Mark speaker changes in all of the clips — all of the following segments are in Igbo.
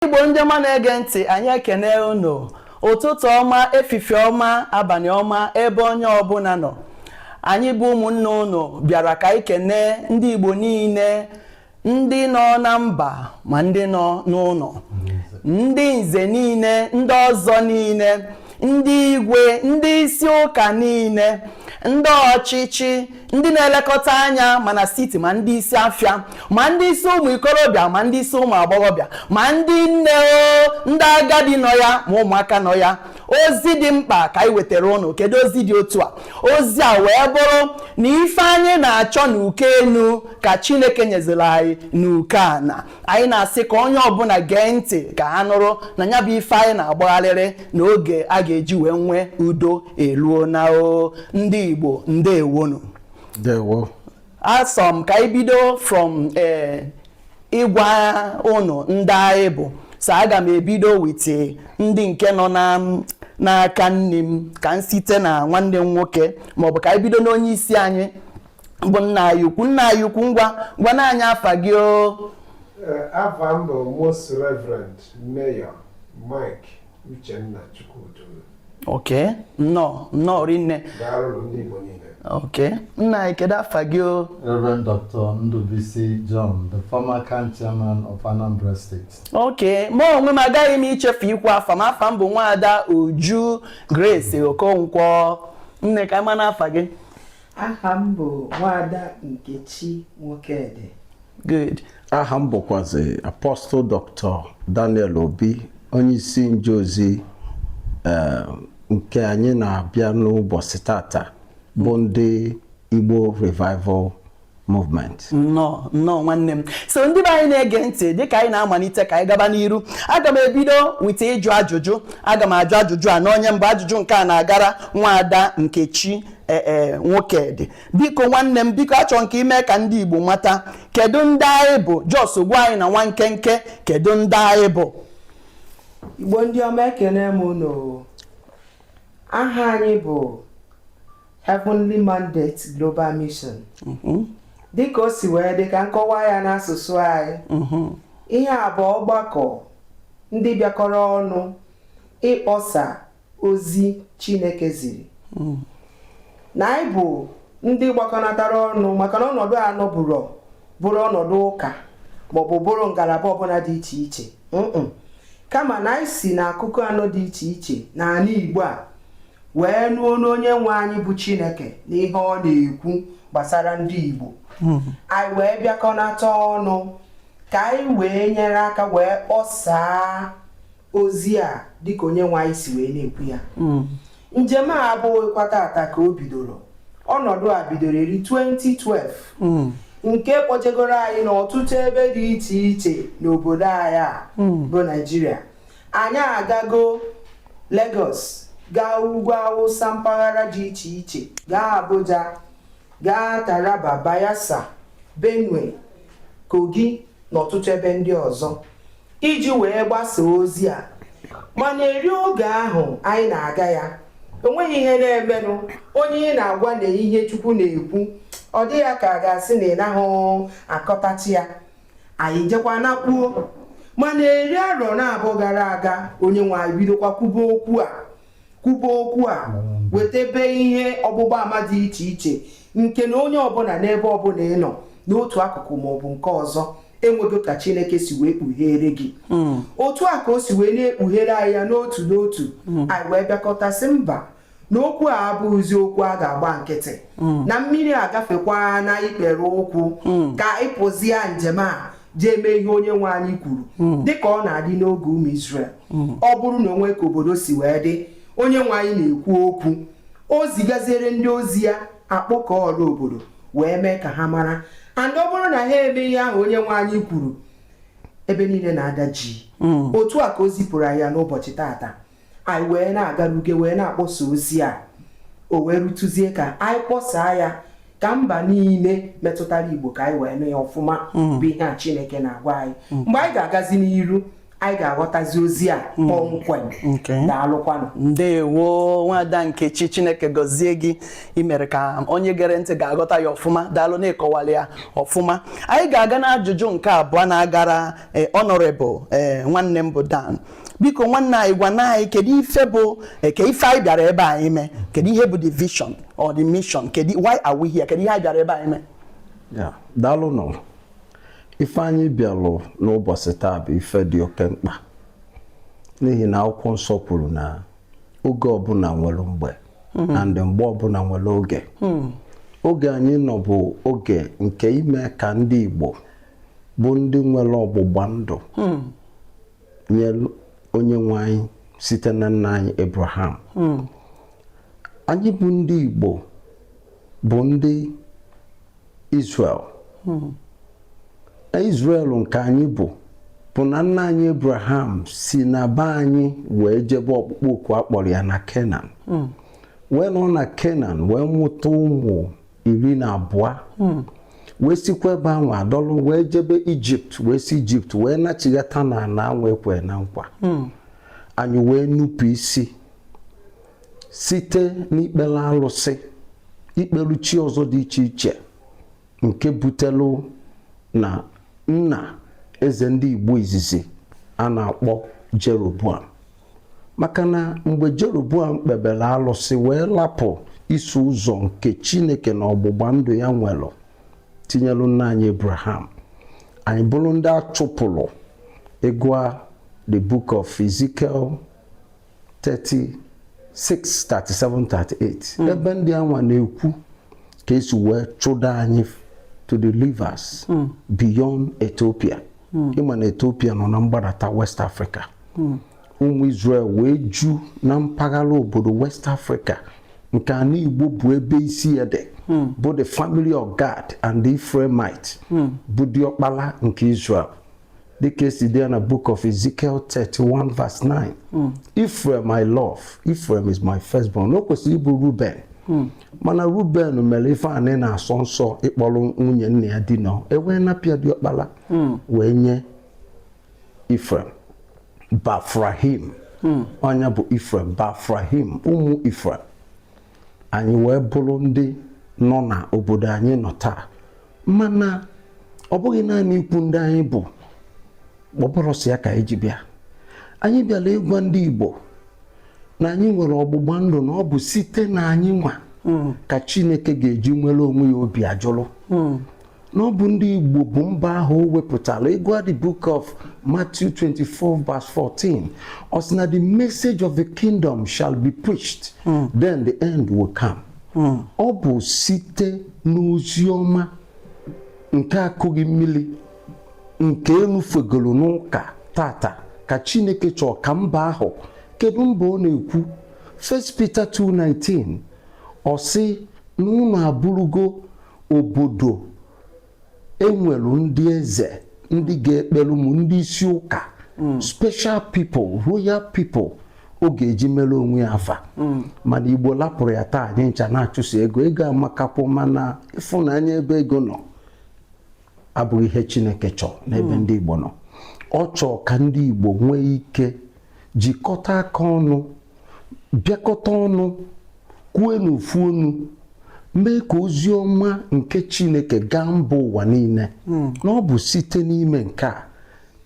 Speaker 1: Igbo ndị ọma na-ege ntị anyị ekene unu ụtụtụ ọma efife ọma abalị ọma ebe onye ọbụla nọ anyị bụ ụmụnne unu bịara ka anyị kene ndị Igbo niile ndị nọ na mba ma ndị nọ n'ụlọ ndị nze niile ndị ọzọ niile ndị igwe ndị isi ụka niile ndị ọchịchị ndị na-elekọta anya mana siti ma ndị isi afịa ma ndị isi ụmụ ikorobịa ma ndị isi ụmụ agbọghọbịa ma ndị nne o ndị agadi nọ ya ma ụmụaka nọ ya ozi dị mkpa ka anyị wetara unu kedu ozi dị otu a ozi a wee bụrụ na ife anyị na-achọ n'uke enu ka chineke nyeziri anyị n'uke ana anyị na-asị ka onye ọbụla gee ntị ka ha nụrụ na ya bụ ife anyị na-agbagharịrị na oge a ga-eji wee nwee udo eluona o ndị Igbo ndewonu
Speaker 2: asị
Speaker 1: m ka anyị bido from eh, ịgwa unu ndị anyị bụ so aga m ebido with ndị nke nọ n'aka nni m ka m site na nwanne m nwoke maọbụ ka anyị bido n'onye isi anyị bụ nna anyị ukwu nna anyị ukwu ngwa gwanụ anyị afa gị o
Speaker 3: afa m bụ most reverend mayor mike uchenna chukwudu ok
Speaker 1: nnọọ nnọọ rinne daalụ ndị
Speaker 3: igbo niile ok
Speaker 1: nna anyị kedu afa gị o Reverend
Speaker 2: Dr. Ndubisi John, the former CAN chairman of Anambra State. ok ma
Speaker 1: onwe m agaghị m ichefu ikwu afa m afa m bụ nwaada uju grace okonkwo nne ka a manụ afa gị aha
Speaker 4: m bụ nwaada Nkechi Nwokedi good
Speaker 1: aha m bụkwazi
Speaker 2: Apostle Dr. Daniel Obi onye isi nje ozi eh, nke anyị na-abịa n'ụbọchị tata bụ ndị Igbo Revival movement nnọọ
Speaker 1: nnọọ nwanne m so ndị be anyị na-ege ntị dịka anyị na-amalite ka anyị gaba n'iru aga m ebido with ịjụ ajụjụ aga m ajụ ajụjụ a n'onye mbụ ajụjụ nke a na-agara nwaada nkechi ee e, Nwokedi biko nwanne m biko achọrọ m ka i mee ka ndị igbo mata kedu ndị anyị bụ just gwa anyị na nwa nkenke kedu ndị anyị bụ
Speaker 4: igbo ndị ọma ekene m unu aha anyị bụ Heavenly Mandate Global Mission mm-hmm. dịka o si wee dị ka m kọwaa ya n'asụsụ anyị mm-hmm. ihe a bụ ọgbakọ ndị bịakọrọ ọnụ ịkpọsa ozi Chineke ziri mm. na anyị bụ ndị gbakọnatara ọnụ maka na ọnọdụ a na ọ bụrọ bụrụ ọnọdụ ụka maọbụ bụrụ ngalaba ọbụla dị iche iche kama na anyị si na akụkụ anọ dị iche iche n'ala Igbo a wee nụ onu onye nwe anyị bụ chineke na ihe ọ na-ekwu gbasara ndị igbo hmm. anyị wee bịakọnata ọnụ ka anyị wee nyere aka wee kpọsaa ozi a dịka onye nwe anyị si wee na-ekwu ya hmm. njem a abụghịkwa taata ka o bidoro ọnọdụ a bidoro eri 2012 hmm. nke kpọjegoro anyị n'ọtụtụ ebe dị iche iche n'obodo anyị a bụ naijiria anyị agago Lagos gaa ugwu awụsa mpaghara dị iche iche gaa Abuja gaa Taraba Bayelsa Benue Kogi na ọtụtụ ebe ndị ọzọ iji wee gbasaa ozi a mana eri oge ahụ anyị na-aga ya o nweghị ihe na-emenụ onye ị na-agwa nee ihe Chukwu na-ekwu ọ dị ya ka a ga-asị na ị naghị akọtachi ya anyị jekwa naakpuo mana eri arọ naabọ gara aga onye nwe anyị bidokwa kwube okwu a kwube okwu a wetabe ihe ọgbụgba ama dị iche iche nke na onye ọbụla n'ebe ọbụla ị nọ n'otu akụkụ ma ọ bụ nke ọzọ enwego ka chineke si wee kpughere gị hmm. otu a ka o si wee na-ekpughere anyị ya n'otu n'otu hmm. anyị wee bịakọta sị mba na okwu a abụghịzi okwu a ga-agba nkịtị hmm. na mmiri agafekwana ikpere ụkwụ hmm. ka ịpụzia njem a jee mee ihe onye nwe anyị kwuru hmm. dịka ọ na-adị n'oge ụmụ Izrel ọ bụrụ na o nwe ka obodo si wee dị onye nwe anyị na-ekwu okwu o zigaziere ndị ozi ya a kpọkọọ ọra obodo wee mee ka ha mara and ọ bụrụ na ha eme ihe ahụ onye nwe anyị kwuru ebe niile na-ada jii otu a ka o zipụrụ anyị n'ụbọchị taata anyị wee na-agaruge wee na-akpọsa ozi a o wee rutezie ka anyị kpọsaa ya ka mba niile metụtara igbo ka anyị wee nụ ya ọfụma mm. bụ ihe a chineke na-agwa anyị mm. mgbe anyị ga-agazi n'iru anyị ga-aghọtazi ozi a hmm. kpọmkwem daalụkwanụ
Speaker 1: ndewo nwada nkechi chineke gọzie gị i mere ka onye gere ntị ga-aghọta ya ọfụma daalụ na ị kọwaala ya ọfụma anyị ga-aga n'ajụjụ nke abụọ na-agara eh, honorable eh, nwanne m bụ Dan biko nwanne anyị gwanụ anyị kedu ife bụ eh, ke ife anyị bịara ebe a ime kedu ihe bụ the vision or the mission kedu why are we here kedu ihe anyị bịara ebe a ime
Speaker 2: daalụnụ ife anyị bịalụ n'ụbọsị taa bụ ife dị oke mkpa n'ihi na akwụkwọ nsọ kwuru na oge ọbụla nwere mgbe hmm. and mgbe ọbụla nwere oge hmm. oge anyị nọ bụ oge nke ime ka ndị Igbo bụ ndị nwere ọgbụgba ndụ hmm. nye onye nwe anyị site na nna anyị Abraham hmm. anyị bụ ndị Igbo bụ ndị Israel hmm. na Israel nke anyị bụ bụ na nna anyị Abraham si na be anyị wee jebe ọkpụkpọ oku a kpọrọ ya na Kenan hmm. wee nọ na Kenan wee mụta ụmụ iri na abụọ hmm. wee sikwa ebe ahụ adọlụ wee jebe ijipt wee si ijipt wee nachighata na ana anwa e kwe na nkwa hmm. anyị wee nupụ isi site n'ikpere alụsị ikpelu chi ọzọ dị iche iche nke butelu na nna eze ndị igbo izizi a na-akpọ jeroboam maka na mgbe Jeroboam kpebere alụsị wee lapụ iso ụzọ nke Chineke na ọgbụgba ndụ ya nwere tinyelu nna anyị Abraham anyị bụrụ ndị a chụpụrụ ị gụa the book of Ezekiel 36 37 38 ebe ndị anwa na-ekwu ka e si wee chụda anyị to the rivers hmm. beyond Ethiopia hmm. ị ma na Ethiopia nọ na mgbadata West Africa hmm. ụmụ Israel wee ju na mpaghara obodo West Africa nke ana Igbo bụ ebe isi ya dị hmm. bụ the family of Gad and the Ephraimite hmm. bụ diọkpala nke Israel dịka e si dee ya na book of Ezekiel 31 verse 9 hmm. Ephraim I love Ephraim is my firstborn o kwesịrị ịbụ Ruben mana Ruben mere ife anị na-asọ nsọ ịkpọrọ nwunye nna ya dina e wee napụ ya diọkpala wee nye Ifrem Bafrahim hmm. onye bụ Ifrem Bafrahim ụmụ Ifrem anyị wee bụrụ ndị nọ na obodo anyị nọ taa mana ọ bụghị naanị ikwu ndị anyị bụ kpọpụrụsị ya ka anyị ji bịa anyị bịara ịgwa ndị Igbo na anyị nwere ọgbụgba ndụ na ọ bụ site na anyị nwa hmm. ka Chineke ga-eji nwere onwe ya obi ajụrụ hmm. na ọ bụ ndị Igbo bụ mba ahụ o wepụtara ị gụa the book of Matthew 24 verse 14 ọ sị na the message of the kingdom shall be preached hmm. then the end will come hmm. ọ bụ site n'ozi ọma nke a kụghị mmiri nke enufegoro n'ụka taata ka Chineke chọọ ka mba ahụ kedu mba ọ na-ekwu 1 Peter 2:9 ọ sị na unu abụrụgo obodo e nwere ndị eze ndị ga-ekpere mụ ndị isi ụka hmm. special people royal people ọ ga-eji mere onwe ya afa mm. mana igbo lapụrụ ya taa anyị ncha na-achụso ego ego amakakwu mana ịfụnanya ebe ego nọ abụghị ihe Chineke chọọ n'ebe hmm. ndị Igbo nọ ọ chọọ ka ndị Igbo nwee ike jikọta aka ọnụ bịakọta ọnụ kwue n'ofu onu mee ka ozi ọma nke Chineke gaa mba ụwa niile hmm. na ọ bụ site n'ime nke a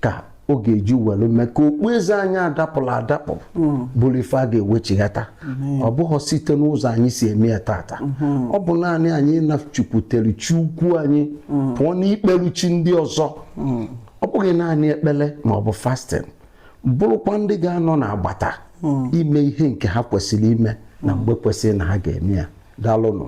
Speaker 2: ka ọ ga-eji were mee ka okpueze anyị adapụla adapụ hmm. bụrụ ife a ga-ewechighata hmm. ọ bụghị site n'ụzọ anyị si eme ya tata hmm. ọ bụ naanị anyị nachukwutere chi ukwu anyị pụọ n'ikpere chi ndị ọzọ ọ bụghị naanị ekpere ma ọ bụ fasting bụrụkwa ndị ga-anọ n'agbata ime ihe nke ha kwesịrị ime na mgbe kwesịrị na ha ga-eme ya daalụnụ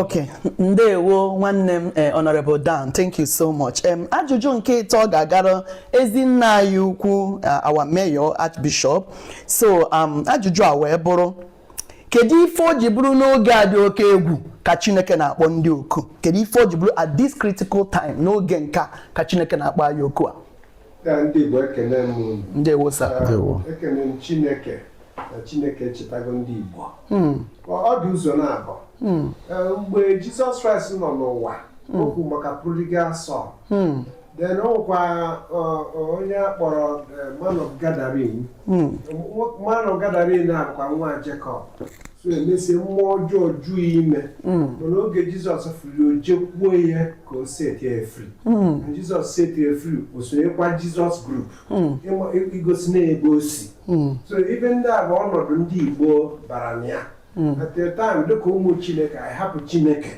Speaker 1: okay ndewo nwanne m eh, honorable Dan thank you so much um, ajụjụ nke ịtọ ga-agara ezi nna anyị ukwu eh, our mayor archbishop so um, ajụjụ a wee bụrụ kedu ife o ji bụrụ n'oge a dị oke egwu ka chineke na-akpọ ndị oku kedu ife o ji bụrụ at this critical time n'oge nka ka chineke na-akpọ anyị oku a Ya ndị
Speaker 3: Igbo ekene m unu. ndewo sir
Speaker 1: Ndewo. ekene
Speaker 3: m chineke na chineke echetago ndị igbo Mm, ọ dị ụzọ naabọ mm, Ee, mgbe jizọs kraịst nọ n'ụwa o kwuru maka prodigal son mm, then o nwekwa onye a kpọrọ eh, man of Gadarene hmm. man of Gadarene a bụkwa nwa Jekọb so emesie mmụọ ọjọọ juu ime hmm. mana oge Jizọs fụrụ o jekwuo ya ka ọ set ya free hmm. na Jizọs set ya free o sonyekwa Jizọs group igosi na ebe o si so ife ndị a bụ ọnọdụ ndị Igbo bara na ya at a time dịka ụmụ Chineke anyị hapụ Chineke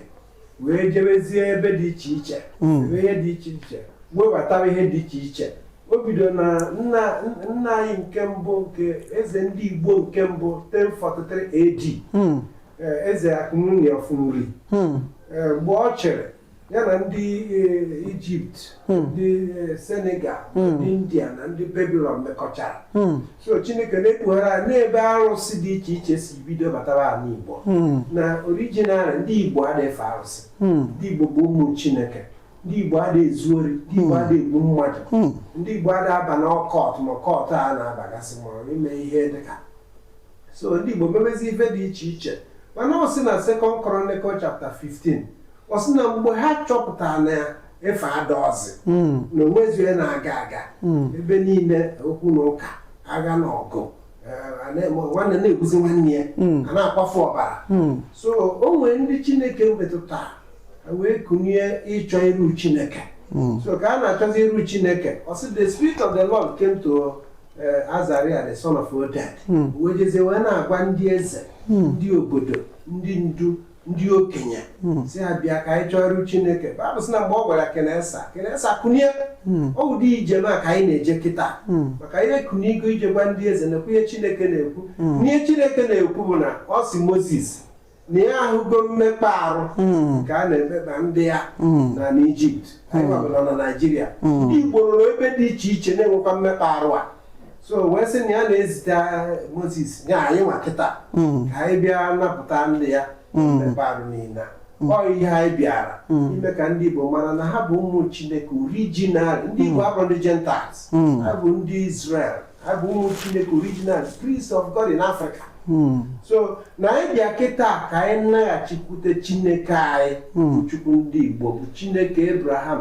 Speaker 3: wee jebezie ebe dị iche iche hmm. ebe ihe dị iche iche webatara ihe dị iche iche o bido na nna nna anyị nke mbụ nke eze ndị Igbo nke mbụ 1043 AD hmm. eh, eze Akunwunye Ọfụnri hmm. eh, mgbe ọ chịrị ya na ndị eh, Egypt ndị Senegal ndị India na ndị Babylon mekọchara so chineke na-ekpughara anyị n'ebe arụsị dị iche iche si bido batara ala igbo hmm. na originally ndị igbo adị efe arụsị hmm. ndị igbo bụ ụmụ chineke ndị igbo adị ezu ori ndị igbo adị hmm. egbu mmadụ ndị igbo adị aba n'occult ma cult a na-abagasị ma ime ihe dịka so ndị igbo mebezi ife dị iche iche mana ọ sị na second chronicles chapter 15 ọ sị na mgbe ha chọpụtara na ife adarọzi mm, na o nwezi ihe na-aga aga mm. ebe niile okwu na ụka agha na ọgụ eh, a na-eme nwanne na-egbuzi nwanne ya Mm. a na-akwafu ọbara Mm, so o nwere ndị chineke metụtara ha wee kunie ịchọ iru chineke mm, so ka a na-achọzi iru chineke ọ sị the spirit of the lord came to eh, azariah the son of oded Mm. wee jezie wee na-agwa ndị eze Mm. ndị obodo ndị ndu ndị okenye hmm. sị ha bịa ka anyị chọọ iru chineke baịbụl sị na mgbe ọ gwara king asa king asa kunie hmm. ọ ụdị ijem a ka anyị na-eje kịta hmm. maka anyị ekunigo ije gwa ndị eze na ihe chineke na-ekwu ihe chineke na-ekwu bụ na ọ sị moses na ya ahụgo mmekpa arụ ka a na-emekpa ndị ya na n'ijipt anyị nwa bu na naijiria ndị igbo nọrọ ebe dị iche iche na-enwekwa mmekpa arụ a so wee sị na ya na-ezite moses ya anyị nwa kịta ka anyị bịa napụta ndị ya mmekpa arụ niile a. ọ ihe anyị bịara ime ka ndị igbo mara na ha bụ ụmụ chineke original ndị igbo abụrọ ndị gentiles ha bụ ndị israel ha bụ ụmụ chineke original priests of God in Africa hmm. so na anyị bịa kịta ka anyị naghachikwute chineke anyị hmm. bụ chukwu ndị Igbo bụ chineke Abraham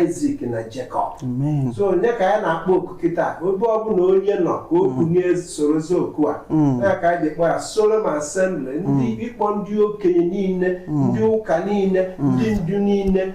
Speaker 3: Isaac na Jacob so onye ka anyị na-akpọ oku kịta ebe ọbụla onye nọ ka o kunie hmm. sorozi oku a na ka anyị ga-akpọ ya Solemn Assembly ndị ịkpọ ndị okenye niile ndị ụka niile ndị ndu niile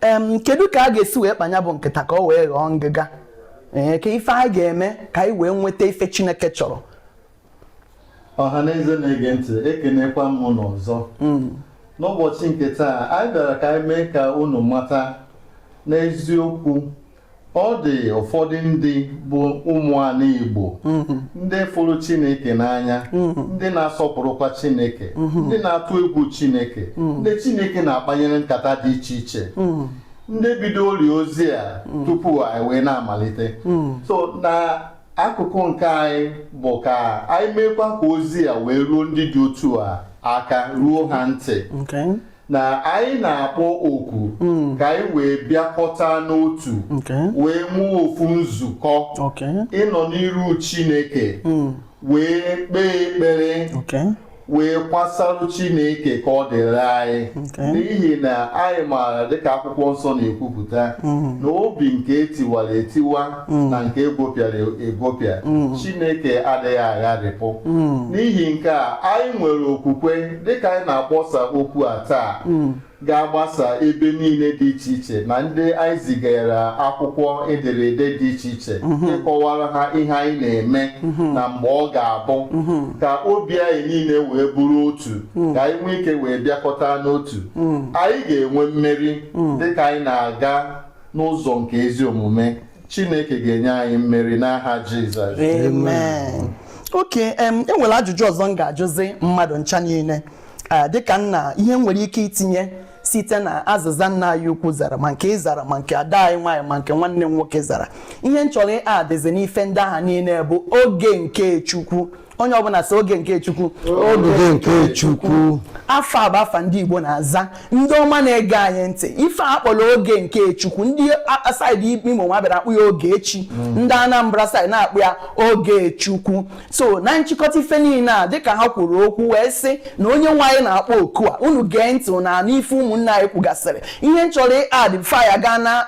Speaker 1: em kedu ka a ga-esi wee kpaa nya bụ nkata ka o wee ghọọ ngịga ee ka ife anyị ga-eme ka anyị wee nweta ife chineke chọrọ ọha
Speaker 5: na eze na-ege ntị ekenekwa m unu ọzọ n'ụbọchị nke taa anyị bịara ka anyị mee ka unu mata n'eziokwu ọ dị ụfọdụ ndị bụ ụmụala Igbo mm-hmm. ndị fụrụ Chineke n'anya mm-hmm. ndị na-asọpụrụkwa Chineke mm-hmm. ndị na-atụ egwu Chineke ndị Chineke na-akpanyere nkata dị iche iche ndị bidoro ozi a tupu anyị wee na-amalite so na akụkụ nke anyị bụ ka anyị meekwa ka ozi a wee ruo ndị dị otu a aka ruo ha ntị na anyị na-akpọ oku hmm. ka anyị wee bịakọta n'otu wee nwee ofu nzukọ ịnọ n'iru Chineke hmm. wee kpee ekpere wee kwasarụ Chineke ka ọ dịrị anyị n'ihi na anyị maara dịka akwụkwọ nsọ na-ekwupụta mm-hmm. na obi nke etiwara etiwa mm-hmm. na nke egwepịara egwepịa mm-hmm. Chineke adịghị agharịpụ n'ihi nke a anyị nwere okwukwe dịka anyị na-akpọsa okwu a taa hmm. ga-agbasa ebe niile dị iche iche na ndị anyị zigara akwụkwọ ederede dị iche iche hmm. ịkọwara ha ihe anyị na-eme hmm. na mgbe ọ ga-abụ ka obi anyị niile wee bụrụ otu ka anyị nwee ike wee bịakọta n'otu anyị ga-enwe mmeri dịka anyị na-aga n'ụzọ nke ezi omume Chineke ga-enye anyị mmeri n'aha Jizọs
Speaker 1: amen okay em enwere ajụjụ ọzọ m ga-ajụzi mmadụ ncha niile Eh, dịka nna ihe m nwere ike itinye site na azịza nna anyị ukwu zara ma nke ị zara ma nke ada anyị nwaanyị ma nke nwanne m nwoke zara ihe m chọrọ ịadịzi n'ife ndị aha niile bụ oge nke chukwu onye ọbụla si oge nke chukwu oge
Speaker 2: nke chukwu afa a bụ
Speaker 1: afa ndị igbo na-aza ndị ọma na-ege anyị ntị ife a kpọrọ oge nke chukwu ndị side imo nwa bịara akpọ ya oge chi mm. ndị anambra side na-akpọ ya oge chukwu so na nchịkọta ife niile a dịka ha kwuru okwu wee sị na onye nwe anyị na-akpọ oku a unu gee ntị na n'ife ụmụnne anyị kwugasịrị ihe m chọrọ ịadd before anyị agaa na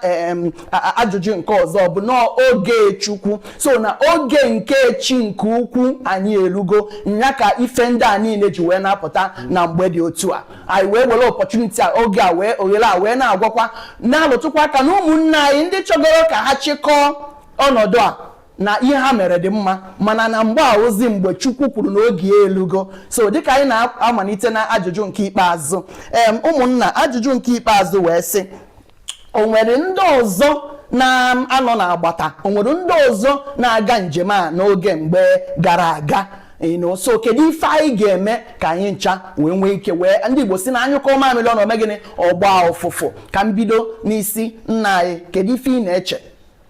Speaker 1: ajụjụ nke ọzọ bụ n'oge chukwu so na oge nke chi nke ukwu anyị elugo nya ka ife ndị a niile ji wee na-apụta na mgbe dị otu a anyị wee were opportunity a oge a wee oghere a wee na-agwakwa na-alụtụkwa aka na ụmụnne anyị ndị chọgoro ka ha chịkọọ ọnọdụ a na ihe ha mere dị mma mana na mgbe a bụzi mgbe chukwu kwuru na oge ya elugo so dịka anyị na-amalite na ajụjụ nke ikpeazụ em ụmụnna ajụjụ nke ikpeazụ wee sị o nwere ndị ọzọ na-anọ n'agbata o nwere ndị ọzọ na-aga njem a n'oge mgbe gara aga you know so kedu ife anyị ga-eme ka anyị ncha wee nwee ike wee ndị Igbo si na a nyụkọọ mamịrị ọnụ o mee gịnị ọ gbaa ụfụfụ ka m bido n'isi nna anyị kedu ife ị na-eche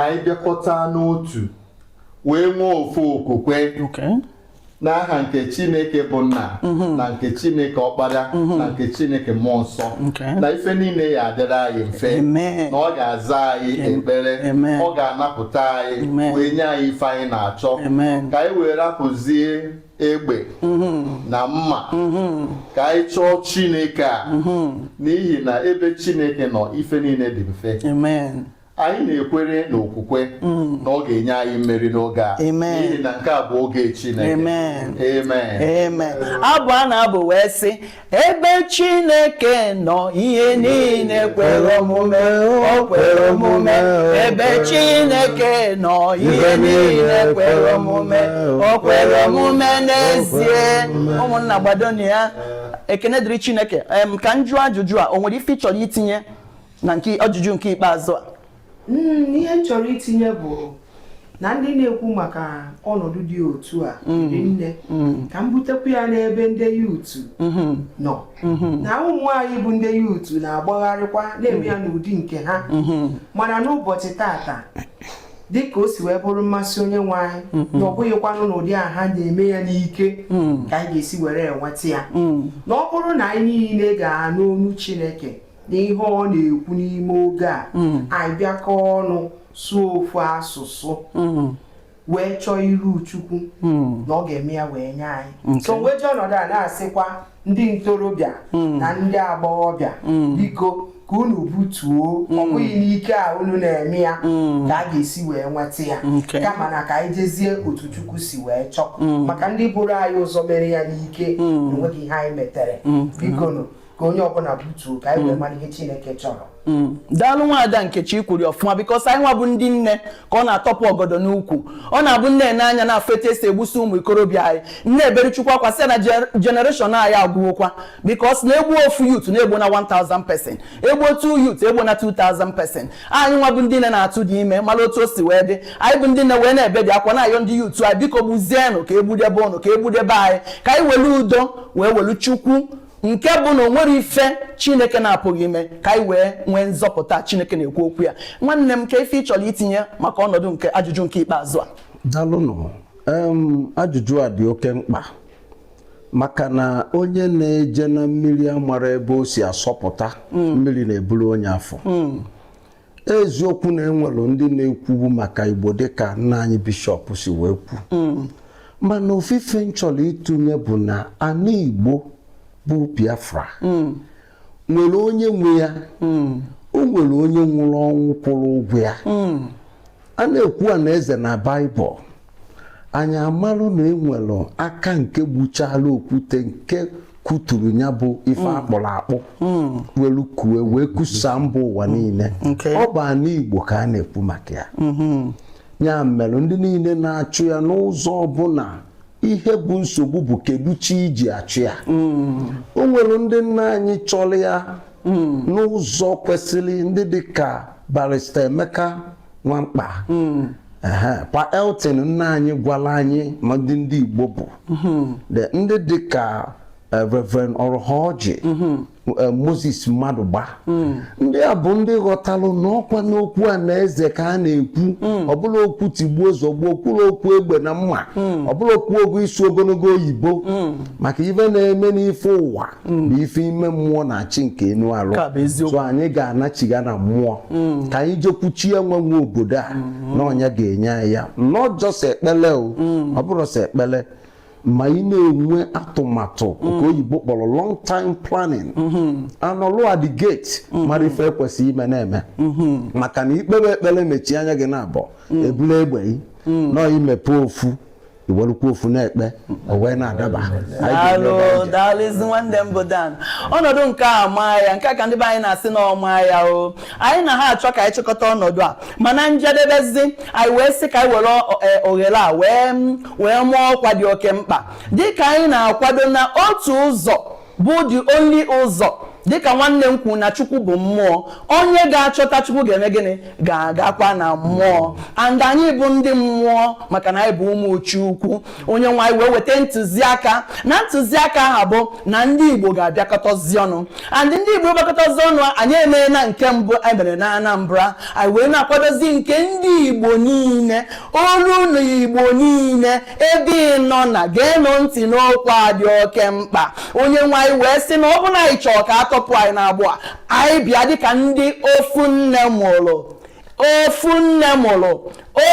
Speaker 5: anyị bịakọta n'otu wee nwee ofu okwukwe n'aha nke chineke bụ nna mhm. na nke chineke ọkpara mhm. na nke chineke mmụọ nsọ na ife niile ya adịrị anyị mfe na ọ ga-aza anyị ekpere ọ ga-anapụta anyị wee nye anyị ife anyị na-achọ ka anyị wee rapụzie egbe mhm. na mma ka anyị chọọ chineke a n'ihi na ebe chineke nọ ife niile dị mfe anyị na-ekwere n'okwukwe mm. na ọ ga-enye anyị mmeri n'oge a n'ihi na nke a bụ oge
Speaker 1: Chineke amen abụ a na-abụ wee sị ebe Chineke nọ ihe niile kwere omume o kwere omume ebe Chineke nọ ihe niile kwere omume o kwere omume n'ezie ụmụnna gbadonụ ya ekene dịrị Chineke ka m jụọ ajụjụ a o nwere ife ị chọrọ itinye na nke ajụjụ nke ikpeazụ a hmm, ihe
Speaker 4: m chọrọ itinye bụ na ndị na-ekwu maka ọnọdụ dị otu a hmm. dị nne hmm. ka m butekwu ya n'ebe ndị youth nọ na ụmụ anyị bụ ndị youth na-agbagharịkwa na-eme ya n'ụdị nke ha mana n'ụbọchị taata dịka o si wee bụrụ mmasị onye nwe anyị mm-hmm. na ọ bụghịkwanụ n'ụdị a ha na-eme ya n'ike mm. ka anyị ga-esi were enweta ya mm. na ọ bụrụ na anyị niile ga-anụ onu Chineke na ihe ọ na-ekwu n'ime oge a mm. anyị bịakọ ọnụ sụọ ofu asụsụ mm. wee chọọ iru chukwu mm. na ọ ga-eme ya wee nye anyị so m wee ji ọnọdụ a na-asịkwa ndị ntorobịa na ndị agbọghọbịa biko ka unu butuo ọ bụghị n'ike a unu na-eme ya ka a ga-esi wee nweta ya kama na ka anyị jezie otu chukwu si wee chọọ maka ndị buru anyị ụzọ mere ya n'ike enweghị ihe anyị metere biko nụ ka onye ọbụla butuo ka anyị wee mara ihe chineke chọrọ Mm. daalụ
Speaker 1: nwaada nkechi i kwuru ọfụma because anyị nwa bụ ndị nne ka ọ na-atọpụ ọgọdọ n'ukwu ọ na-abụ nne n'anya na-afụ etu esi egbusi ụmụ ikorobịa anyị na-ebere chukwu akwa sị na generation anyị agwụwokwa because na e gbu ofu youth na egbuna 1000 person e gbu otu youth egbuna 2000 person anyị nwa bụ ndị nne na-atụdị ime mara otu o si wee dị anyị bụ ndị nne wee na-ebedị akwa na-ayọ ndị youth anyị biko gbuzienụ ka egbudebe ụnụ ka egbudebe anyị ka anyị welu udo wee welu chukwu nke bụ na o nwerọ ife chineke na-apụghị ime ka anyị wee nwee nzọpụta chineke na-ekwu okwu ya nwanne m kee ife ị chọrọ itinye maka ọnọdụ nke ajụjụ nke ikpeazụ a dalụnụ
Speaker 2: ajụjụ a dị oke mkpa maka na onye na-eje na mmiri amarọ ebe o si asọpụta hmm. mmiri na-eburu onye afụ hmm. eziokwu na enwere ndị na-ekwubu maka Igbo dịka nna anyị bishọp si wee kwu mm. mana ofu ife m chọrọ ịtụnye bụ na ana Igbo bụ Biafra mm. nwere onye nwe ya mm. o nwere onye nwụrụ ọnwụ kwụrụ ụgwọ ya a na-ekwu ana eze na baịbụl anyị amalụ na enwere aka nke gbuchala okwute nke kuturu ya bụ ife mm. a kpụrụ akpụ mm. welu kue wee kusaa mba ụwa mm. niile ọ bụ ana igbo ka a na-ekwu maka ya mm-hmm. ya mere ndị niile na-achụ ya n'ụzọ ọbụla ihe bụ nsogbu bụ kedu chi e ji achụ ya hmm. o nwere ndị nna anyị chọrọ ya hmm. n'ụzọ kwesịrị ndị dị ka barrister Emeka Nwankpa hmm. pa Elton nna anyị gwara anyị ma ndị ndị Igbo bụ ndị dị ka eh, Reverend Orhoji mm-hmm. eh, Moses Madụgba mm. ndị a bụ ndị ghọtalụ na ọkwa na okwu ana eze ka a na-ekwu mm. ọ bụrọ okwu tigbuo zọgbuo o kwurọ okwu egbe na mma mm. ọ bụrọ okwu ogo ịsụ ogologo oyibo maka ife na-eme n'ife ụwa bụ ife ime mmụọ na-achị nke anụ arụ so anyị ga-anachiga na mmụọ ka anyị jekwu chi a nwa nwe obodo a mm-hmm. na ọ nya ga-enye anyị ya not just ekpele o ọ bụrọ sọ ekpele ma ị na-enwe atụmatụ nke mm. oyibo kpọrọ long time planning mm-hmm. anọlụ at the gate mm-hmm. mara ife e kwesịrị ime na-eme mm-hmm. maka na i kpee ekpere mechie anya gị na abụọ mm. ebula egbe gị mm. nọọ imepe ofu iwerukwa ofu na-ekpe o wee
Speaker 1: na-adaba daalụzi nwanne m bụ Dan ọnọdụ nke a maa ya nke a ka ndị be anyị na-asị na ọma ya o anyị na ha achọ ka anyị chịkọta ọnọdụ a mana njedebezi anyị wee sị ka anyị were e, oghere a wee wee maa ọkwa dị oke mkpa dịka anyị na-akwado na otu ụzọ bụ the only ụzọ dịka nwanne m kwuru na chukwu bụ mmụọ onye ga-achọta chukwu ga-eme gịnị ga-agakwa na mmụọ and anyị bụ ndị mmụọ maka na anyị bụ ụmụ chukwu onye nwe anyị wee weta ntụziaka na ntụziaka ahụ bụ na ndị igbo ga-abịakọtazi ọnụ and ndị igbo gbakọtazi ọnụ anyị emeena nke mbụ anyị mere na anambra anyị wee na-akwadozi nke ndị igbo niile olu na igbo niile ebe ị nọ na geenụ ntị n'okwu a dị oke mkpa onye nwe anyị wee sị na ọ bụ na anyị chọọ ka a tọpụ anyị n'agbụ a anyị bịa dịka ndị ofu nne mụrụ ofu nne mụrụ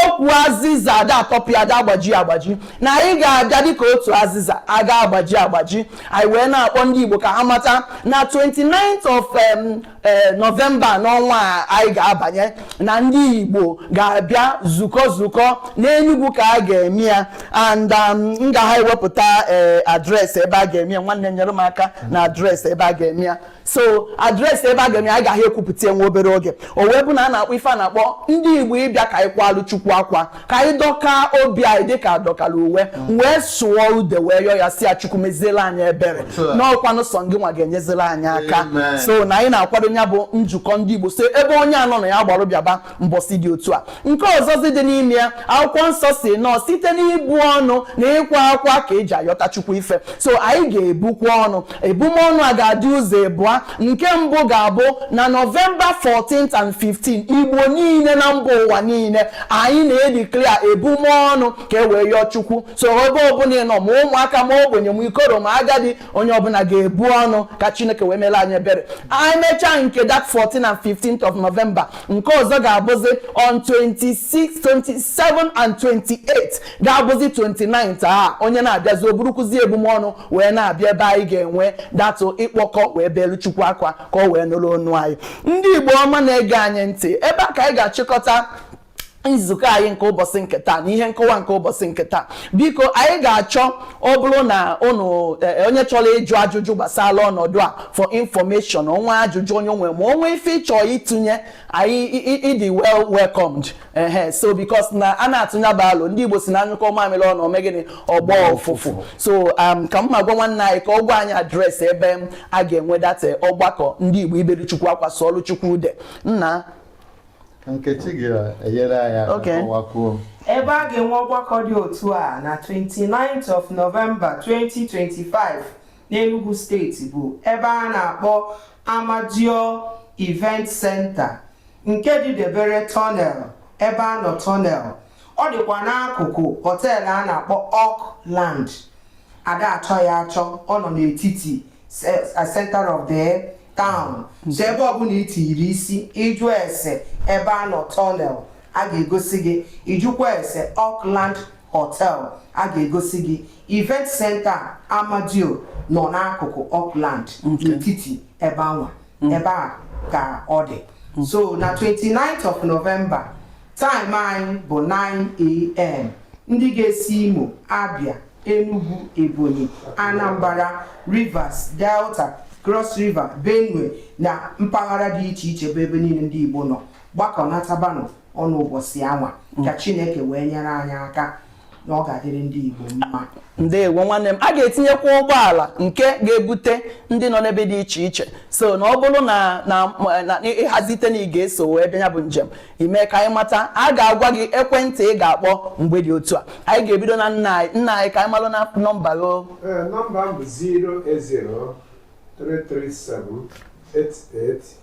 Speaker 1: ukwu azịza ada atọpụ ada agbaji agbaji na anyị ga-abịa dịka otu azịza aga agbaji agbaji anyị wee na-akpọ ndị igbo ka ha mata na 29th of um, ee eh, nọvemba n'ọnwa a anyị ga-abanye na ndị igbo ga-abịa zukọ zukọ n'enugwu ka a ga-eme ya and um, m ga ha ewepụta eh, adreesị ebe a ga-eme ya nwanne nyere m aka na adreesị ebe a ga-eme ya so adreesị ebe a ga-eme ya anyị ga ha ekwupụta ya nwa obere oge o wee bụ na a na-akpọ ife a na-akpọ ndị igbo ịbịa ka anyị kwalụ chukwu akwa ka anyị dọkaa obi anyị dịka a dọkara uwe wee sụọ ude wee yọọ ya sị ya chukwu meziela anyị ebere na ọkwanụ sọ gị nwa ga-enyezila anyị aka so na anyị na-akwado ya bụ njikọ ndị igbo so ebe onye anọ na ya gbara bịaba mbọsị dị otu a nke ọzọzi dị n'ime ya akwụkwọ nsọ sị n'ọ site n'ibu ọnụ na ịkwa akwa ka e ji ayọta chukwu ife so anyị ga-ebukwa ọnụ ebumọnụ a ga-adị ụzọ ebụa nke mbụ ga-abụ na nọvemba 14th and 15 igbo niile na mba ụwa niile anyị na-edeclare ebumọnụ ka e wee yọọ chukwu so ebe ọbụla ị nọ ma ụmụaka ma ogbenye ma ikoro ma agadi onye ọbụla ga-ebu ọnụ ka chineke wee mere anyị ebere anyị mechaa nke that 14 and 15th of november nke ọzọ ga-abụzi on 26 27 and 28 ga-abụzi 29th a onye na-abịazi o burukwuzi ebumọnụ wee na-abịa ebe anyị ga-enwe that ịkpọkọ wee belu chukwu akwa ka o wee nụrụ ọnụ anyị ndị igbo ọma na-ege anyị ntị ebe a ka anyị ga-achịkọta nzukọ anyị nke ụbọchị nke taa na ihe nkọwa nke ụbọchị nke taa biko anyị ga-achọ ọ bụrụ na ụnụ e, onye chọrọ ịjụ ajụjụ gbasara ọnọdụ a for information o nwe ajụjụ onye nwe ma o nwe ife ị chọ ịtụnye anyị ị dị well welcomed ehe so because na a na-atụnya bụ alụ ndị Igbo sị na a nyụkọọ mamịrị ọnụ o mee gịnị ọ gbọọ ụfụfụ so um, ka m ma gwa nwanne anyị ka ọ gwa anyị adreesị ebe a ga-enwe that ọgbakọ ndị Igbo ibere Chukwu akwa sụọlụ Chukwu ude
Speaker 5: nna Nkechi ga-enyere anyị aka kọwakwuo ebe a
Speaker 4: ga-enwe ọgbakọ dị otu a na 29th of November 2025 n'Enugu steeti bụ ebe a na-akpọ Amadeo Event Center nke dị debere tunnel Ebeano tunnel ọ dịkwa n'akụkụ họteelụ a na-akpọ Oakland a da-achọ ya achọ ọ nọ n'etiti center of the town hmm. so ebe ọbụla i tiyiri isi ị jụ ese Ebeano tunnel a ga-egosi gị ị jụkwa ese Oakland Hotel a ga-egosi gị event center Amadeo nọ n'akụkụ Oakland n'etiti ebe anwa mm. ebe a ka ọ dị mm. so na 29th of November time anyị bụ 9am ndị ga-esi Imo Abia Enugu Ebonyi Anambra Rivers Delta Cross River Benue na mpaghara dị iche iche bụ ebe niile ndị Igbo nọ gbakọnatabanụ ọnụ ụbọchị anwa ka Chineke wee nyere anyị aka na ọ ga-adịrị ndị Igbo mma ndewo nwanne m
Speaker 1: a ga-etinyekwa ụgbọala nke ga-ebute ndị nọ n'ebe dị iche iche so na ọ bụrụ na ị hazite na ị ga-eso wee bịa ya bụ njem i mee ka anyị mata a ga-agwa gị ekwentị ị ga-akpọ mgbe dị otu a anyị ga-ebido na nna anyị nna anyị ka anyị malụ na nọmba gị nọmba m bụ 070
Speaker 3: 35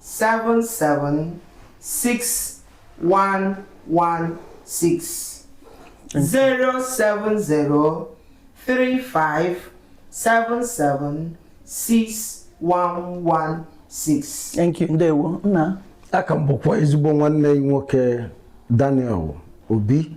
Speaker 4: 776116 07035776116 Thank you.
Speaker 1: Ndewo. Nna. A ka m bụkwa
Speaker 2: ezigbo nwanne nwoke Daniel Obi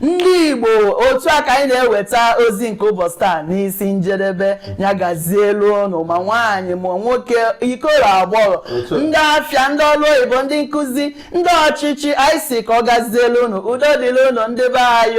Speaker 1: ndị Igbo otu a ka anyị na-eweta ozi nke ụbọchị taa n'isi njedebe ya gazielụ ụnụ ma nwaanyị ma nwoke ikoro agbọghọ ndị afịa ndị ọrụ oyibo ndị nkụzi ndị ọchịchị anyị sị ka ọ gazielụ ụnụ udo dịrị ụnụ ndị be anyị